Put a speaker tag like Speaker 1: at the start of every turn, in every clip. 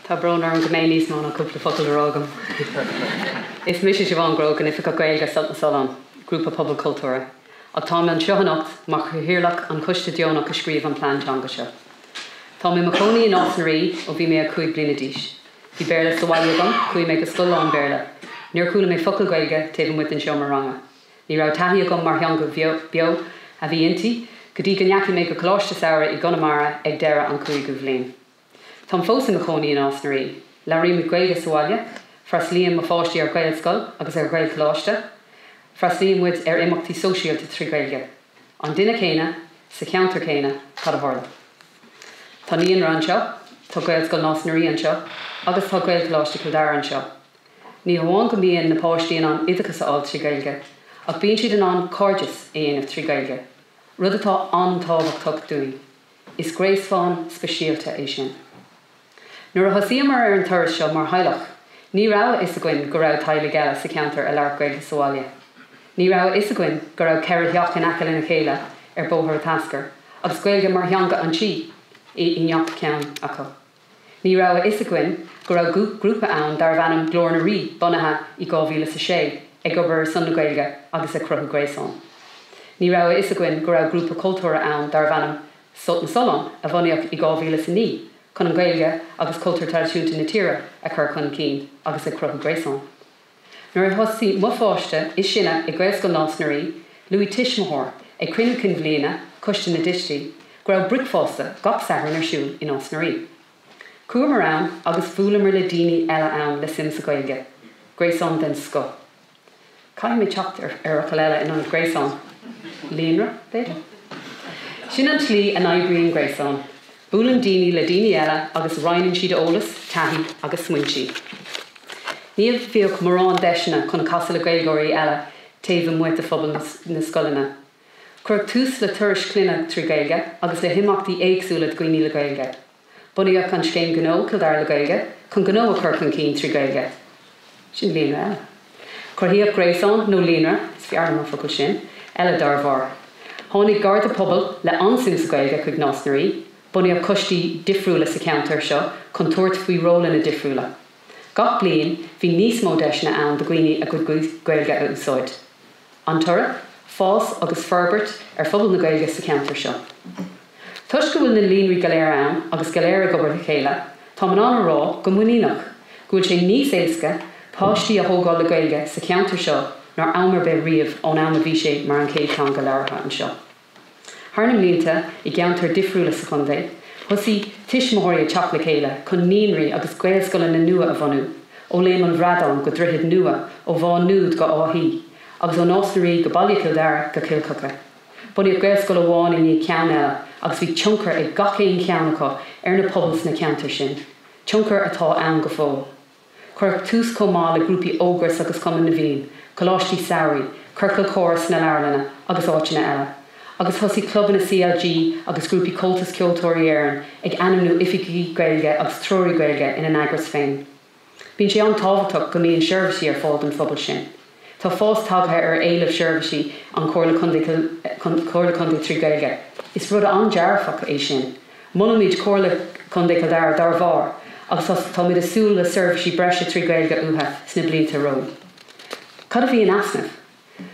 Speaker 1: Tá brón orm go mbeidh níos mó ná cúpla focal le rá agam. Is mise Siobhán Grogan, Oifigeach Gaeilge Sult na Sollán, grúpa pobail cultúrtha, ach táim anseo anocht mar chathaoirleach an choiste deonach a scríobh an plean teanga seo. Táim i mo chónaí i Nás na Rí ó bhí mé 5 bliana d'aois. Bhí Béarla sa bhaile agam, chuaigh mé go scoil lán-Bhéarla. Níor chuala mé focal Gaeilge taobh amuigh den seomra ranga. Ní raibh taithí agam mar theanga beo a bhí inti go dtí go ndeachaigh mé go coláiste samhraidh i gConamara ag deireadh an cúigiú bhliain. Táim fós i mo chónaí i Nás na Rí. Labhraímid Gaeilge sa bhaile. Freastlaíonn mo pháistí ar Ghaelscoil agus ar Ghaelcholáiste. Freastlaíonn muid ar imeachtaí sóisialta trí Ghaeilge. An duine céanna, sa cheantar céanna, cad a tharla? Tá naíonra anseo, tá Gaelscoil Nás na Rí anseo agus tá Gaelcholáiste Chill Dara anseo. Ní hamháin go mbíonn na páistí in ann oideachas a fháil trí Gaeilge ach bíonn siad in ann cairdeas a dhéanamh trí Gaeilge, rud atá an-tábhachtach dúinn. Is gréasán speisialta é sin. Nuair a thosaíomar ar an turas seo mar theaghlach ní raibh a fhios againn go raibh teaghlaigh eile sa cheantar a labhair Gaeilge sa bhaile. Ní raibh a fhios againn go raibh ceithre theach in aice lena chéile ar Bóthar an Tascair agus Gaeilge mar theanga an tí i ngach ceann acu. Ní raibh a fhios againn go raibh grúpa ann darbh ainm Glór na Rí, bunaithe i dhá mhíle is a sé, ag obair ar son na Gaeilge agus ag cruthú gréasán. Ní raibh a fhios againn go raibh grúpa cultúrtha ann darbh ainm Sult na Sollán a bhunaíodh i dhá mhíle is a naoi chun an Gaeilge agus cultúr traidisiúnta na tíre a chur chun cinn agus ag cruthú gréasán. Nuair a thosaigh mo pháiste is sine i nGaelscoil Nás na Rí, luaigh tuismitheoir ag Cruinniú Cinn Bhliana Choiste na dTuistí go raibh bricfeasta gach Satharn ar siúl i Nás na Rí. Chuamar ann agus bhuaileamar le daoine eile ann le suim sa Ghaeilge. Gréasán den scoth. Caithfidh mé teacht ar fhocal eile in ionad gréasán. Líonra, b'fhéidir? Sin an slí a n-oibríonn gréasán. Buaileann daoine le daoine eile agus roinneann siad eolas, taithí agus smaointí. Ní bhíodh mórán deiseanna chun casadh le Gaeilgeoirí eile taobh amuigh de phobal na scoileanna. Cuireadh tús le turais clainne trí Ghaeilge agus le himeachtaí éagsúla do dhaoine le Gaeilge. Bunaíodh an scéim gnó Cill Dara le Gaeilge chun gnó a chur chun cinn trí Ghaeilge. Sin líonra eile. Cruthaíodh gréasán, nó líonra, is fearr liom an focal sin, eile dár bharr. Tháinig Garda Pobail le an-suim sa Ghaeilge chuig Nás na Rí. Bunaíodh coistí difriúla sa cheantar seo chun tabhairt faoi rólanna difriúla. Gach bliain bhí níos mó deiseanna ann do dhaoine a gcuid Gaeilge a úsáid. An toradh, fás agus forbairt ar phobal na Gaeilge sa cheantar seo. Toisc go bhfuil na líonraí go léir ann agus go léir ag obair le chéile, táim in ann a rá go muiníneach, go bhfuil sé níos éasca páistí a thógáil le Gaeilge sa cheantar seo ná am ar bith riamh ón am a bhí sé mar an chéad teanga labhartha anseo. Thar na mblianta, i gceantair difriúla sa chontae, thosaigh tuismitheoirí ag teacht le chéile chun naíonraí agus gaelscoileanna nua a bhunú, ó Léim an Bhradáin go Droichead Nua, ó Mhá Nuad go Áth Í, agus ó Nás na Rí go Baile Chill Dara go Cill Choca. Bunaíodh gaelscoil amháin i ndiaidh ceann eile agus bhí tionchar ag gach aon cheann acu ar na pobail sna ceantair sin, tionchar atá ann go fóill. Cuireadh tús chomh maith le grúpaí Ógras agus Cumann na bhFiann, Coláistí Samhraidh, ciorcail chomhrá na Leabharlainne agus áiteanna eile, agus thosaigh clubanna CLG agus grúpaí Comhaltas Ceoltóirí Éireann ag ainmniú oifigigh Gaeilge agus treoraí Gaeilge ina n-eagras féin. Bíonn sé an-tábhachtach go mbíonn seirbhísí ar fáil don phobal sin. Tá fás tagtha ar éileamh seirbhísí an Chomhair Comhairle Contae trí Ghaeilge. Is rud an-dearfach é sin. Molaimid Comhairle Contae Chill Dara dá bharr agus táimid ag súil le seirbhísí breise trí Ghaeilge uatha sna blianta romhainn. Cad a bhí in easnamh?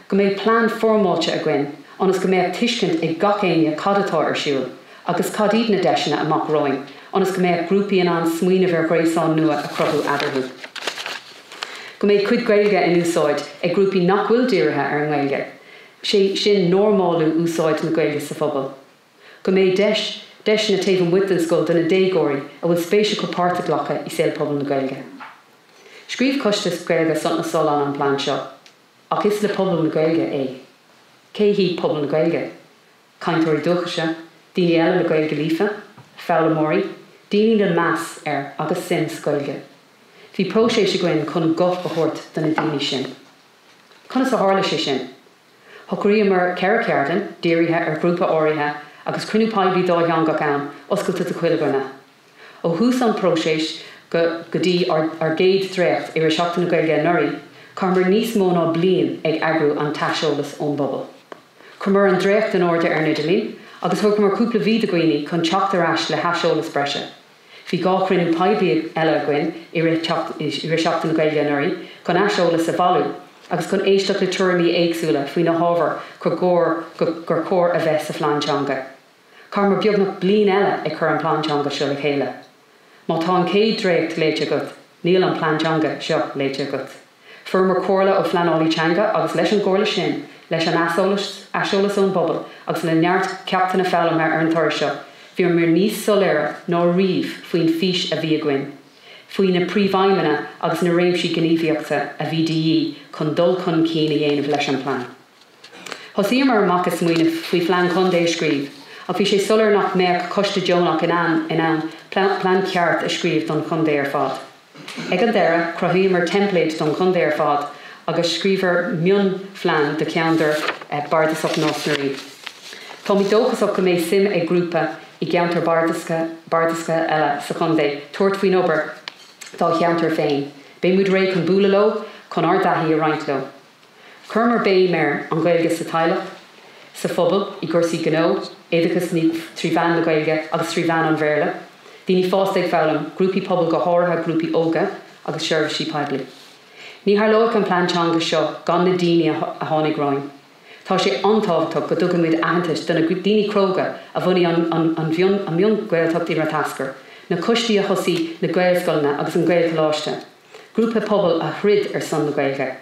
Speaker 1: Go mbeadh plean foirmeáilte againn ionas go mbeadh tuiscint ag gach éinne cad atá ar siúl agus cad iad na deiseanna amach romhainn ionas go mbeadh grúpaí in ann smaoineamh ar ghréasáin nua a chruthú eadarthu. go mbeidh cuid Gaeilge in úsáid ag grúpaí nach bhfuil dírithe ar an nGaeilge, sé sin normálú úsáid na Gaeilge sa phobal. Go mbeidh deis, deiseanna taobh amuigh den scoil do na déagóirí a bhfuil spéis acu páirt a ghlacadh i saol pobal na Gaeilge. Scríobh Coiste Gaeilge Sult na Sollán an plean seo. Ach is le pobal na Gaeilge é. Cé hiad pobal na Gaeilge? cainteoirí dúchaise, daoine eile le Gaeilge líofa, foghlaimeoirí, daoine le meas ar agus suim sa Ghaeilge. Bhí próiseas againn chun guth a thabhairt do na daoine sin. Conas a tharla sé sin? Shocraíomar ceithre cheardlann, dírithe ar ghrúpa áirithe, agus cruinniú poiblí dátheangach ann, oscailte do chuile dhuine. Ó thús an próiseas go dtí ár gcéad dréacht i rith Seachtain na Gaeilge anuraidh, chaitheamar níos mó ná bliain ag eagrú an t-aiseolas ón bpobal. Chuireamar an dréacht in airde ar an idirlíon agus thugamar cúpla mhí do dhaoine chun teacht ar ais le haiseolas breise. Bhí dhá chruinniú poiblí eile againn i rith Sheachtain na Gaeilge anuraidh chun aiseolas a bhailiú agus chun éisteacht le tuairimí éagsúla faoi na hábhair gur chóir a bheith sa Phlean Teanga. Chaitheamar beagnach bliain eile ag cur an Plean Teanga seo le chéile. Má tá an chéad dréacht léite agat, níl an Plean Teanga seo léite agat. Fuaireamar comhairle ó phleanálaí teanga agus leis an gcomhairle sin, leis an aiseolas, aiseolas ón bpobal agus le neart ceachtanna foghlamtha ar an turas seo, bhíomar níos soiléire ná riamh faoin bhfís a bhí againn, faoi na príomhaidhmeanna agus na réimsí gníomhaíochta a bhí de dhíth chun dul chun cinn a dhéanamh leis an bplean. Thosaíomar amach ag smaoineamh faoi phlean contae a scríobh ach bhí sé soiléir nach mbeadh coiste deonach in ann in ann plean ceart a scríobh don chontae ar fad. Ag an deireadh cruthaíomar teimpléid don chontae ar fad agus scríobhamar mionphlean do cheann dár bardasaigh Nás na Rí. Táimid dóchasach go mbeidh suim ag grúpa i gceantar bardasach eile sa chontae tabhairt faoin obair dá cheantar féin. Beidh muid réidh chun bualadh leo chun ár dtaithí a roinnt leo. Chuireamar béim ar an Ghaeilge sa teaghlach, sa phobal, i gcúrsaí gnó, oideachas trí mheán na Gaeilge agus trí mheán an Bhéarla, daoine fásta ag foghlaim, grúpaí pobail go háirithe grúpaí óga agus seirbhísí poiblí. Ní tharlódh an Plean Teanga seo gan na daoine a tháinig romhainn. Tá sé an-tábhachtach go dtugaimid aitheantas do na daoine cróga a bhunaigh an mion-Ghaeltacht i Rath Eascair, na coistí a thosaigh na Gaelscoileanna agus an Gaelcholáiste, Grúpa pobail a throid ar son na Gaeilge.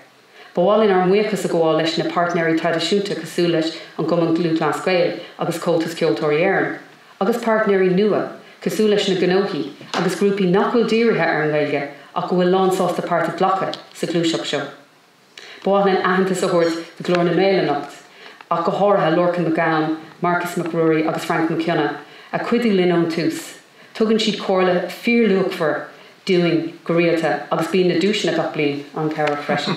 Speaker 1: Ba mhaith linn ár mbuíochas a gabháil leis na páirtnéirí traidisiúnta cosúil leis an gCumann Lúthchleas Gael agus Comhaltas Ceoltóirí Éireann, agus páirtnéirí nua cosúil leis na gnóthaí agus grúpaí nach bhfuil dírithe ar an nGaeilge ach go bhfuil lánsásta páirt a ghlacadh sa ghluaiseacht seo. Ba mhaith linn aitheantas a thabhairt do Glór na nGael anocht, ach go háirithe Lorcan Mac Gabhann, Marcus Mac Ruairí agus Frainc Mac Cionnaith a chuidigh linn ón tús. Tugann siad comhairle fíorluachmhar dúinn go rialta agus bíonn na duaiseanna gach bliain an-chabhrach freisin.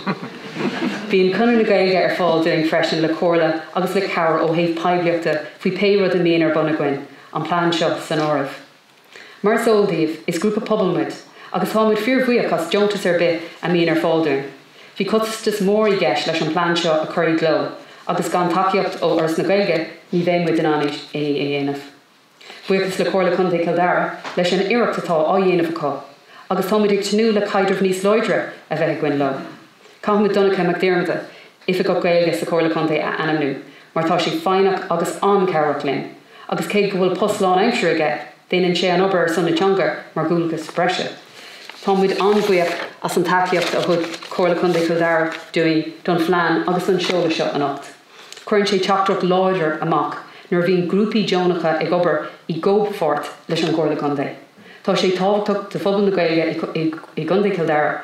Speaker 1: Bíonn Conradh na Gaeilge ar fáil dúinn freisin le comhairle agus le cabhair ó thaobh poiblíochta faoi pé rud a mbíonn ar bun againn, an plean seo san áireamh. Mar is eol daoibh, is grúpa pobail muid agus táimid fíor-bhuíoch as deontas ar bith a mbíonn ar fáil dúinn. Bhí costas mór i gceist leis an bplean seo a chur i gcló agus gan tacaíocht ó Fhoras na Gaeilge ní bheidh muid in ann é a dhéanamh. Buíochas le Comhairle Contae Chill Dara leis an iarracht atá á dhéanamh acu agus táimid ag tnúth le caidreamh níos láidre a bheith againn leo. Caithfimid Donncha Mac Diarmada i. Oifigeach Gaeilge sa Chomhairle Contae a ainmniú mar tá sé foighneach agus an-chabhrach linn agus cé go bhfuil post lánaimseartha aige, déanann sé an obair ar son na teanga mar dhualgas breise. Tá muid an-bhuíoch as an tacaíocht a thug Comhairle Contae Chill Dara dúinn don phlean agus don seoladh seo anocht. Cuireann sé teachtaireacht láidir amach nuair a bhíonn grúpaí deonacha ag obair i gcomhpháirt leis an gComhairle Contae. Tá sé tábhachtach do phobal na Gaeilge i gContae Chill Dara,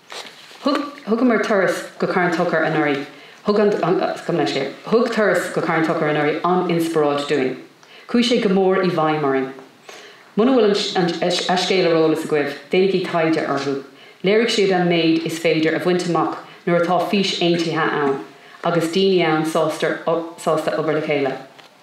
Speaker 1: Thugamar turas go Carn Tóchair anuraidh. Thug an Thug turas go Carn Tóchair anuraidh an-inspioráid dúinn. Chuaigh sé go mór i bhfeidhm orainn. Muna bhfuil an scéal ar eolas agaibh, déanaigí taighde orthu. Léirigh siad an méid is féidir a bhaint amach nuair atá fís aontaithe ann agus daoine ann sásta obair le chéile.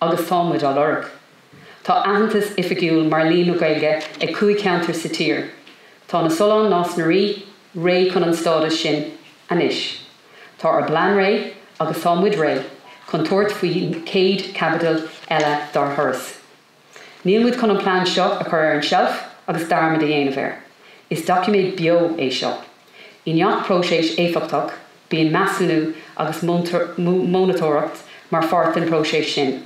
Speaker 1: Agus tá muid á lorg. Tá aitheantas oifigiúil mar líonra Gaeilge ag cúig cheantar sa tír. Tá na Solláin, Nás na Rí, réidh chun an stádas sin anois. Tá ár bplean réidh agus tá muid réidh chun tabhairt faoi chéad chaibidil eile dár thuras. Níl muid chun an plean seo a chur ar an seilf agus dearmad a dhéanamh air. Is doiciméad beo é seo. I ngach próiseas éifeachtach Bíonn measúnú agus mónatóireacht mar pháirt den próiseas sin.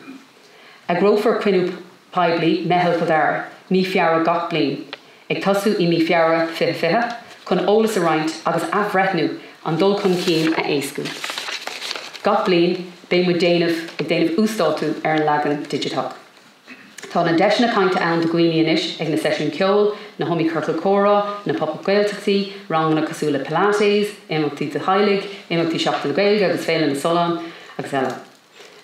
Speaker 1: Eagrófar cruinniú poiblí, Meitheal Chill Dara, mí Feabhra gach bliain, ag tosú i mí Feabhra 2020, chun eolas a roinnt agus athbhreithniú an dul chun cinn a éascú. Gach bliain, beidh muid déanamh ag déanamh uasdátú ar an leagan digiteach. Tá na deiseanna cainte ann do dhaoine anois ag na seisiúin ceoil, na hiomaí ciorcal comhrá, na Pop Up Gaeltachtaí, ranganna cosúil le Pilates, imeachtaí do theaghlaigh, imeachtaí Seachtain na Gaeilge agus Féile na Sollán agus eile.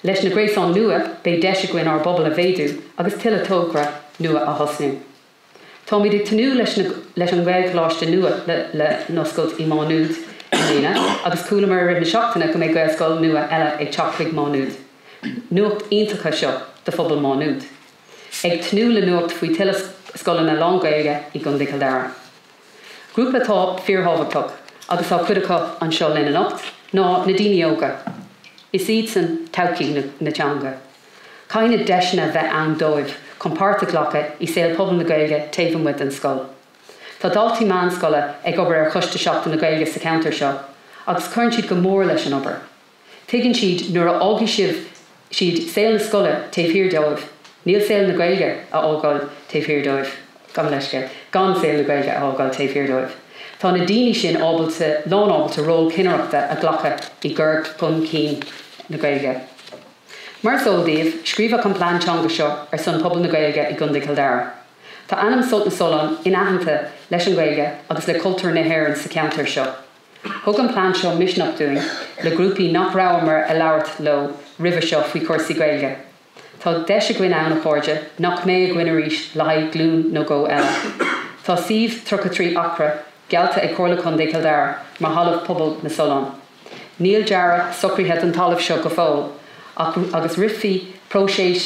Speaker 1: Leis na gréasáin nua beidh deis againn ár bpobal a mhéadú agus tuilleadh tograí nua a thosnú. Táimid ag tnúth leis na leis an Ghaelcholáiste nua le le n-oscailt i Má Nuad i mbliana agus chualamar i rith na seachtaine go mbeidh Gaelscoil nua eile ag teacht chuig Má Nuad. Nuacht iontacha seo do phobal Má Nuad. Ag tnúth le nuacht faoi tuilleadh scoileanna lán-Ghaeilge i gContae Chill Dara. Grúpa atá fíor-thábhachtach agus tá cuid acu anseo linn anocht ná na daoine óga. Is iadsan todhchaí na teanga. Caithfidh deiseanna bheith ann dóibh chun páirt a ghlacadh i saol pobail na Gaeilge taobh amuigh den scoil. Tá daltaí meánscoile ag obair ar Choiste Seachtain na Gaeilge sa cheantar seo agus cuireann siad go mór leis an obair. Tuigeann siad nuair a fhágfaidh sibh siad saol na scoile taobh thiar dóibh, níl saol na Gaeilge a fhágáil taobh thiar dóibh. Gabh mo leithscéal, gan saol na Gaeilge a fhágáil taobh thiar dóibh. Tá na daoine sin ábalta, lán ábalta ról cinnireachta a ghlacadh i gcur chun cinn na Gaeilge. Mar is eol daoibh, scríobhadh an plean teanga seo ar son pobal na Gaeilge i gContae Chill Dara. Tá ainm Sult na Sollán inaitheanta leis an Ghaeilge agus le cultúr na hÉireann sa cheantar seo. Thug an plean seo misneach dúinn le grúpaí nach rabhamar a labhairt leo roimhe seo faoi chúrsaí Gaeilge. Tá deis againn ann, a chairde, nach mbeidh againn arís le haghaidh glún nó dhó eile. Tá suíomh, 33 acra, geallta ag Comhairle Contae Chill Dara mar thalamh pobail na Sollán. Níl dearadh socraithe don talamh seo go fóill agus rithfear próiseas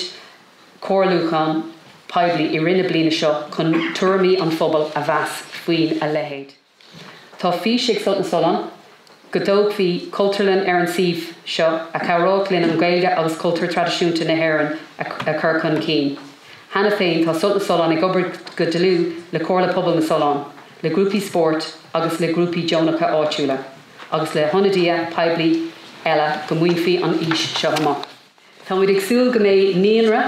Speaker 1: comhairliúcháin poiblí i rith na bliana seo chun tuairimí an phobail a mheas faoin a leithéid. Tá fís ag Sult na Sollán go dtógfaí Cultúrlann ar an suíomh seo a chabhródh linn an Ghaeilge agus cultúr traidisiúnta na hÉireann a chur chun cinn. Cheana féin tá Sult na Sollán ag obair go dlúth le Comhairle Pobail na Sollán, le grúpaí spóirt agus le grúpaí deonacha áitiúla. agus le hionadaithe poiblí eile go mbainfí an fhís seo amach. Tá muid ag súil go mbeidh naíonra,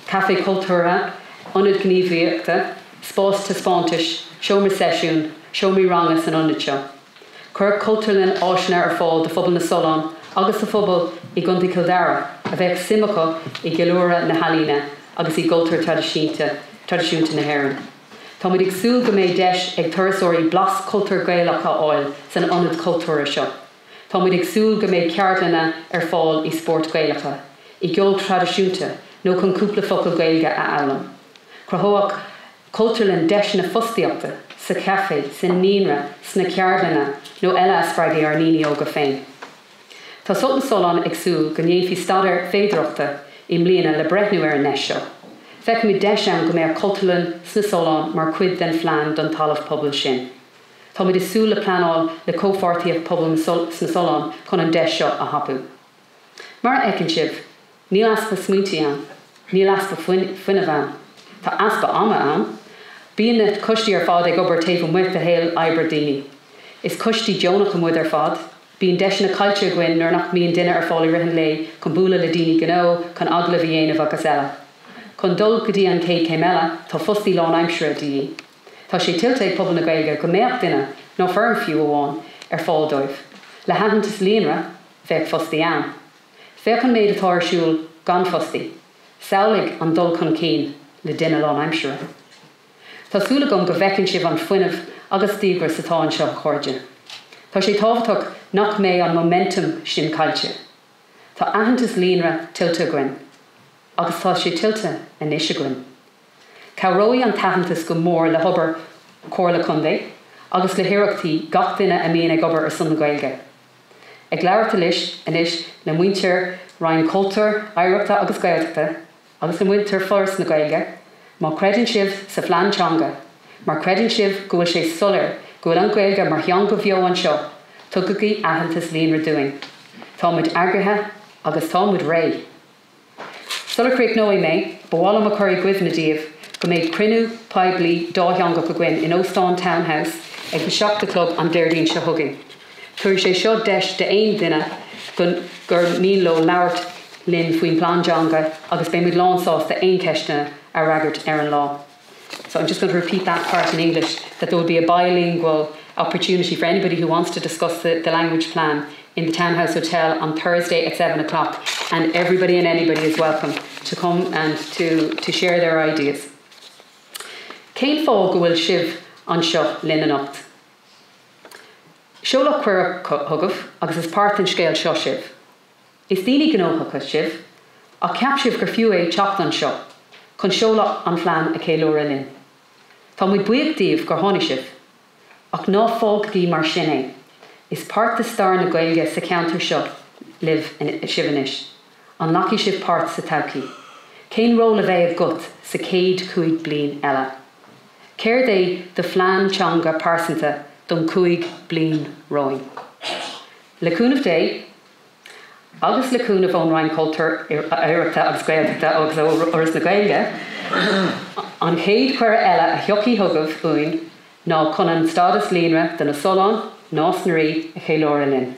Speaker 1: caifé cultúrtha, ionad gníomhaíochta, spás taispeántais, seomra seisiúin, seomraí ranga san ionad seo. Chuirfeadh Cultúrlann áiseanna ar fáil do phobal na Sollán agus do phobail i gContae Chill Dara a bheadh suim acu i gceiliúradh na healaíne agus i gcultúr traidisiúnta na hÉireann. Táimid ag súil go mbeidh deis ag turasóirí blas cultúr Gaelach a fháil san Ionad Cultúrtha seo. Táimid ag súil go mbeidh ceardlanna ar fáil i spóirt Gaelacha, i gceol traidisiúnta nó chun cúpla focal Gaeilge a fhoghlaim. Cruthóidh Cultúrlann deiseanna fostaíochta sa Chaifé, sa Naíonra, sna ceardlanna nó eile a spreagfaidh ár ndaoine óga féin. Tá Sult na Sollán ag súil go ndéanfaí staidéar féidireachta i mbliana le breithniú ar an ndeis seo. Feicimid deis ann go mbeadh Cultúrlann sna Solláin mar cuid den phlean don talamh pobail sin. Táimid ag súil le pleanáil le Comhpháirtíocht Pobail sna Solláin chun an deis seo a thapú. Mar a fheiceann sibh, níl easpa smaointí ann. Níl easpa fuinnimh ann. Tá easpa ama ann. Bíonn na coistí ar fad ag obair taobh amuigh de shaol oibre daoine. Is coistí deonacha muid ar fad. Bíonn deiseanna caillte againn nuair nach mbíonn duine ar fáil i rith an lae chun bualadh le daoine gnó, chun agallamh a dhéanamh agus eile. Chun dul go dtí an chéad chéim eile, tá fostaí lánaimsire de dhíth. Tá sé tuillte ag pobal na Gaeilge go mbeadh duine, nó foireann fiú amháin, ar fáil dóibh. Le haitheantas líonra, bheadh fostaí ann. Féach an méid atá ar siúl gan fostaí. Samhlaigh an dul chun cinn le duine lánaimsire. Tá súil agam go bhfeiceann sibh an fuinneamh agus díogras atá anseo, a chairde. Tá sé tábhachtach nach mbeidh an momentum sin caillte. Tá aitheantas líonra tuillte againn, agus tá sé tuillte anois againn. Cabhróidh an t-aitheantas go mór le hobair Chomhairle Contae agus le hiarrachtaí gach duine a mbíonn ag obair ar son na Gaeilge. Ag labhairt anois le muintir Roinn Cultúir, Oidhreachta agus Gaeltachta, agus a muintir Foras na Gaeilge má chreideann sibh sa phlean teanga má chreideann sibh go bhfuil sé soiléir go bhfuil an Ghaeilge mar theanga bheo anseo tugaigí aitheantas líonra dúinn tá muid eagraithe agus tá muid réidh. Sular chríochnóidh mé ba mhaith liom a chur i gcuimhne daoibh go mbeidh cruinniú poiblí dátheangach againn in Óstán Town House ag 7 a chlog an Déardaoin seo chugainn. Tabharfaidh sé seo deis d'aon duine gur mian leo labhairt linn faoin bPlean Teanga agus beidh muid lán sásta aon cheisteanna a fhreagairt ar an lá. So I'm just going to repeat that part in English that there will be a bilingual opportunity for anybody who wants to discuss the the Language Plan in the Townhouse Hotel on Thursday at seven o'clock and everybody and anybody is welcome to come and to to share their ideas. Cén fáth go bhfuil sibh anseo linn anocht? Seoladh cuireadh chugaibh agus is páirt den scéal seo sibh. Is daoine gnóthacha sibh ach cheap sibh gur fiú é teacht anseo chun seoladh an phlean a cheiliúradh linn. Tá muid buíoch díbh gur tháinig sibh. Ach ná fágaigí mar sin é. Is páirt de stair na Gaeilge sa cheantar seo libh, sibh anois. An nglacfaidh sibh páirt sa todhchaí? Cén ról a bheidh agat sa chéad chúig bliain eile? Céard é do phlean teanga pearsanta don 5 bliain romhainn? Le cúnamh Dé agus le cúnamh ón Roinn Cultúir, Oidhreachta agus Gaeltachta agus ó Fhoras na Gaeilge, an chéad chuireadh eile a thiocfaidh chugaibh uainn ná chun an Stádas Líonra do na Solláin, Nás na Rí, a cheiliúradh linn.